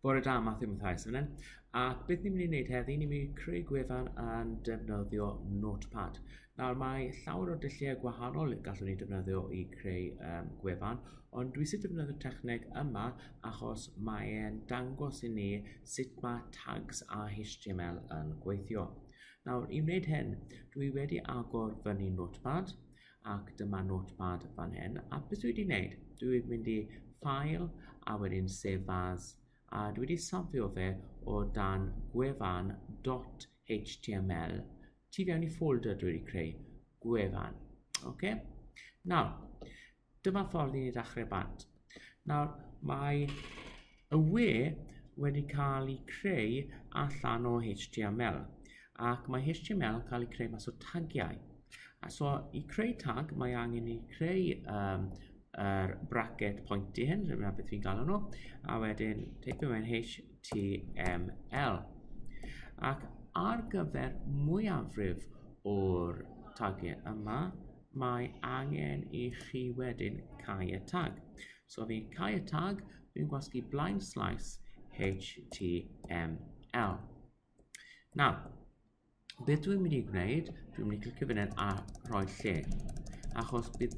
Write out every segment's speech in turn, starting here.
Bore da, Matthew Mathias fan hyn. A beth ni'n mynd i wneud heddi? Ni'n mynd i creu gwefan a'n defnyddio Notepad. Nawr mae llawer o dulliau gwahanol gallwn ni defnyddio i creu um, gwefan, ond dwi sy'n defnyddio'r techneg yma achos mae'n dangos i ni sut mae tags a HTML yn gweithio. Nawr, i wneud hyn, dwi wedi agor fyny Notepad, ac dyma notepad fan hyn a beth dwi wedi wneud dwi wedi mynd i file a wedyn save as a dwi wedi safio fe o dan gwefan .html tu fewn i folder dwi wedi creu gwefan oce nawr dyma ffordd i ni ddechrau bant Nawr, mae y we wedi cael ei creu allan o HTML ac mae HTML yn cael ei creu mas o tagiau. A so i creu tag mae angen i creu um, er bracket pointy hyn, dyna beth fi'n galw nhw, a wedyn teipio mewn HTML. Ac ar gyfer mwyafrif o'r tagiau yma, mae angen i chi wedyn cau y tag. So fi cau y tag, dwi'n gwasgu blaen slaes HTML. Nawr, beth dwi'n mynd i gwneud, dwi'n mynd i clicio fan hyn a rhoi lle. Achos bydd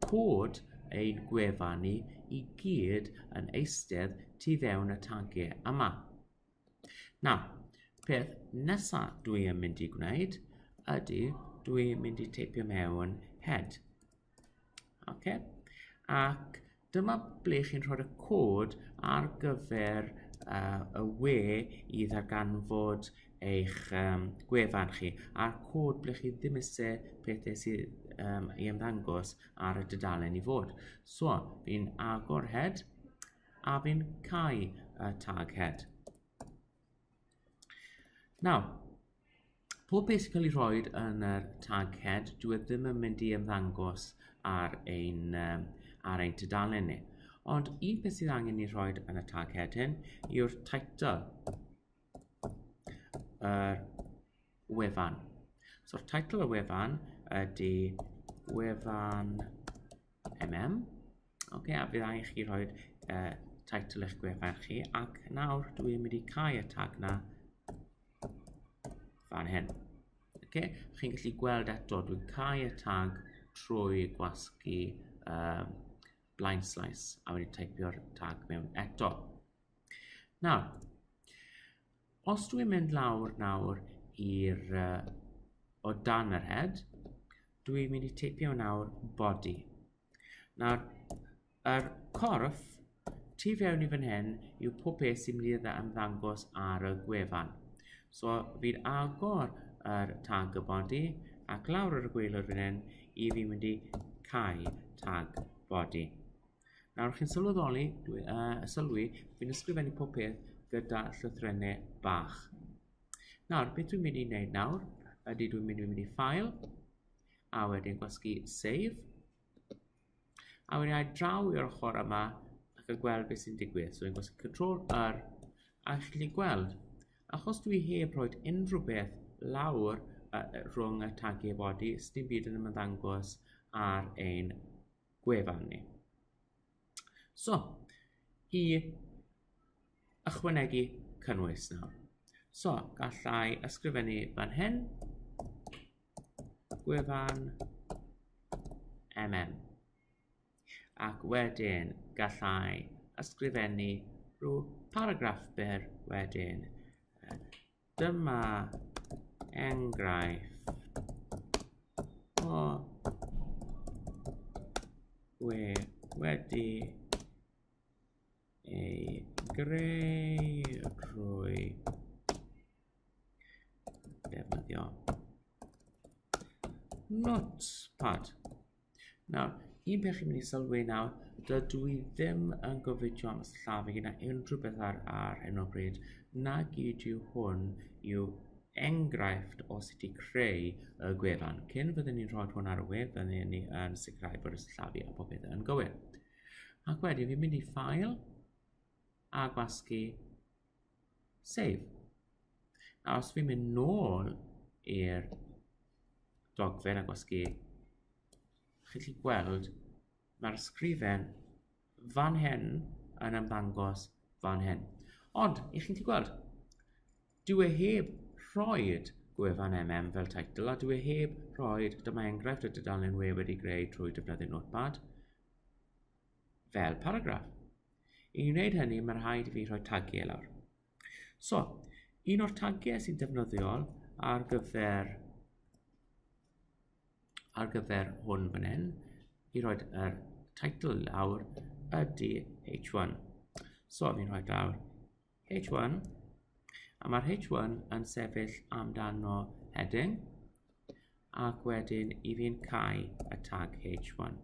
cod ein gwefan ni i gyd yn eistedd tu fewn y tagiau yma. Nawr, peth nesaf dwi yn mynd i gwneud ydy dwi mynd i teipio mewn head. Okay? Ac dyma ble chi'n rhoi'r cod ar gyfer uh, y we i ddarganfod eich um, gwefan chi a'r cod ble chi ddim eisiau pethau sydd um, i ymddangos ar y dudalen i fod. So, fi'n agor head a fi'n cau y tag head. Nawr, pob beth sy'n cael ei rhoi yn yr tag head, dwi e ddim yn mynd i ymddangos ar ein, um, ar ein tudalen ni. Ond un peth sydd angen ei rhoi yn y tag head hyn yw'r title yr wefan. So title y wefan ydy wefan MM. Ok, a bydd angen chi rhoi uh, title eich gwefan chi ac nawr dwi'n mynd i cael y tag na fan hyn. Ok, chi'n gallu gweld eto dwi'n cael y tag trwy gwasgu um, blind slice a wedi typio'r tag mewn eto. Nawr, os dwi'n mynd lawr nawr i'r uh, o dan yr head, dwi'n mynd i teipio nawr body. Nawr, yr er corff tu fewn i fan hyn yw pob peth sy'n mynd i ymddangos ar y gwefan. So, fi'n agor yr er tag y body ac lawr ar y gweilod fan hyn i fi mynd i cael tag body. Nawr chi'n sylweddoli, dwi, uh, sylwi, fi'n ysgrifennu pob peth gyda llythrennau bach. Nawr, beth dwi'n mynd i wneud nawr, ydy dwi'n mynd i mynd i ffael, a wedyn gwasgu save, a wedyn ai draw i'r ochr yma, ac yn gweld beth sy'n digwydd. So, fi'n gwasgu Ctrl R, a chi'n gallu gweld, achos dwi heb roed unrhyw beth lawr uh, rhwng y tag e body, sdim byd yn ymddangos ar ein gwefan ni. So, i ychwanegu cynnwys nawr. So, gallai ysgrifennu fan hyn, gwefan MM. Ac wedyn gallai ysgrifennu rhyw paragraff byr wedyn Dyma enghraifft o we wedi ei greu drwy defnyddio Notepad. Nawr, un peth chi'n mynd i sylwi nawr, dydw i ddim yn gofidio am llafu gyda unrhyw beth ar, ar hyn o bryd, na gyd yw hwn yw enghraifft o sut i creu y gwefan. Cyn fyddwn ni'n rhoi hwn ar y wefan, byddwn ni yn sicrhau bod y llafu a popeth yn gywir. Ac wedyn fi'n mynd i ffael a gwasgu Save. A os fi'n mynd nôl i'r dogfen a gwasgu, chi'n gallu gweld mae'r sgrifen fan hyn yn ymddangos fan hyn. Ond, i chi'n gallu gweld, dwi e heb rhoi gwefan MM fel title a dwi e heb rhoi dyma enghraifft y dudalen we wedi greu trwy defnyddio Notepad. fel paragraff. I wneud hynny, mae rhaid i fi rhoi tagiau lawr. So, un o'r tagiau sy'n defnyddiol ar gyfer ar gyfer hwn fan hyn i roed yr title lawr ydy H1. So, fi'n rhoi lawr H1 a mae'r H1 yn sefyll amdano heading ac wedyn i fi'n cael y tag H1.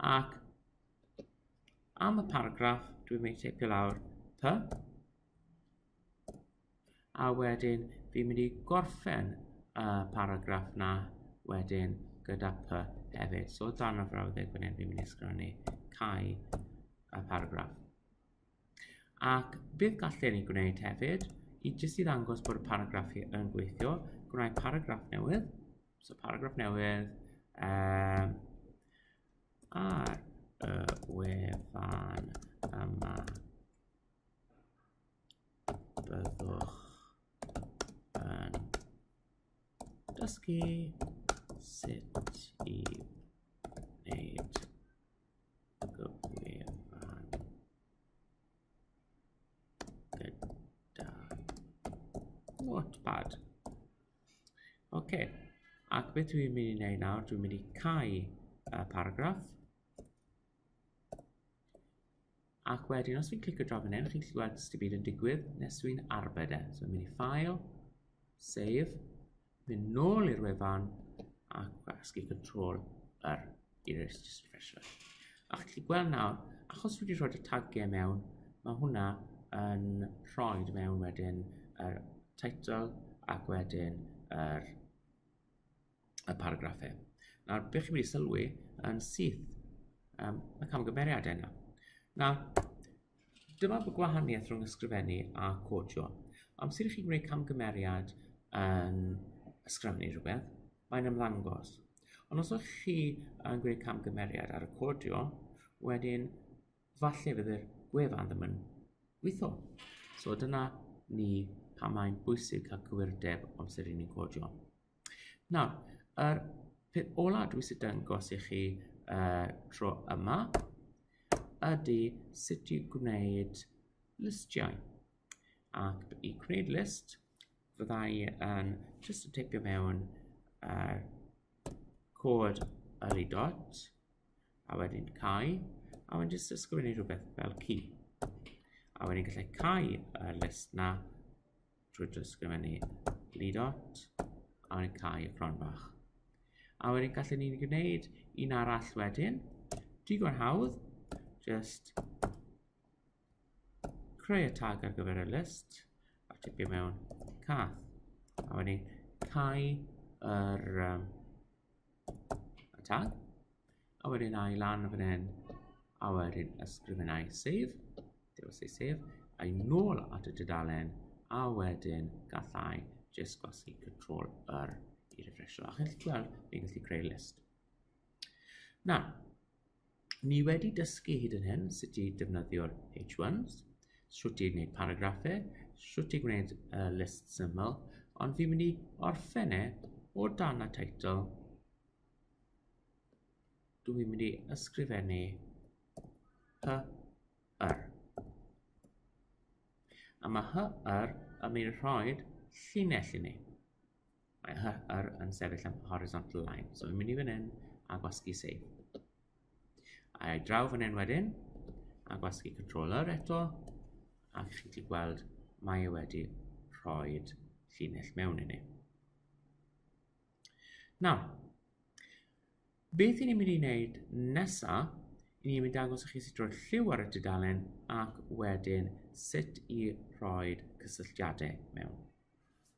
Ac am y paragraff, dwi'n mynd i teipio lawr py. A wedyn, fi'n mynd i gorffen y paragraff na wedyn gyda py hefyd. So, dan y frawddeg fan hyn, fi'n mynd i sgrannu cael y paragraff. Ac bydd gallen ni gwneud hefyd, i jyst i ddangos bod y paragraff yn gweithio, gwneud paragraff newydd, So paragraff newydd. Um, ar y wefan yma byddwch yn dysgu sut i wneud gyfwefan gyda Wattpad. Oce, ac beth dwi'n mynd i wneud nawr, dwi'n mynd i cau y paragraff. Ac wedyn, os fi'n clicio draw fan hyn, chi'n gallu gweld sydd byd yn digwydd nes dwi'n arbed e. So, mynd i ffail, save, mynd nôl i'r wefan, ac gwasgu control yr It is just pressure. A chi gallu gweld nawr, achos wedi rhoi y tagiau mewn, mae hwnna yn rhoi mewn wedyn y er title ac wedyn yr er, y paragraffau. Nawr, beth chi'n mynd i sylwi yn syth, um, y camgymeriad yna. Nawr, Dyma fy gwahaniaeth rhwng ysgrifennu a codio. Amser i chi wneud camgymeriad yn ysgrifennu rhywbeth, mae'n ymddangos. Ond os ydych chi yn gwneud camgymeriad ar y codio, wedyn falle fydd yr gwefan ddim yn gweithio. So dyna ni pam mae'n bwysig cael cywirdeb amser i ni'n codio. Nawr, yr peth ola dwi eisiau dangos i chi uh, tro yma ydy sut i gwneud listiau. Ac i gwneud list, fydda i yn just yn teipio mewn uh, cod yli dot, a wedyn cau, a wedyn just ysgrifennu rhywbeth fel key. A wedyn gallai cau y list na drwy drysgrifennu lidot a ni'n cael y cron bach. A wedyn gallwn ni'n gwneud un arall wedyn, digon hawdd, just creu y tag ar gyfer y list a tipio mewn cath. A wedyn cau yr um, y tag. A wedyn a i lan fan hyn, a wedyn ysgrifenau save, dewis ei save, a i nôl at y dydalen, a wedyn gallai jyst gwasgu control yr i refresho. A chi'n gallu gweld, fi'n gallu creu list. Na, Ni wedi dysgu hyd yn hyn sut i defnyddio'r H1s, sut i wneud paragraffau, sut i gwneud uh, list syml, ond fi'n mynd i orffen e o dan y teitl. Dwi'n mynd i ysgrifennu hy yr. A mae hy yr yn mynd i rhoi llinell i ni. Mae HR yn sefyll am horizontal line. So, fi'n mynd i fan hyn a gwasgu save. A i draw fan hyn wedyn, a gwasgu controller eto, a chi wedi gweld mae e wedi rhoi llinell mewn i ni. Nawr, beth i ni'n mynd i wneud nesaf, i ni'n mynd i dangos i chi sut roi'r lliw ar y dudalen ac wedyn sut i rhoi cysylltiadau mewn.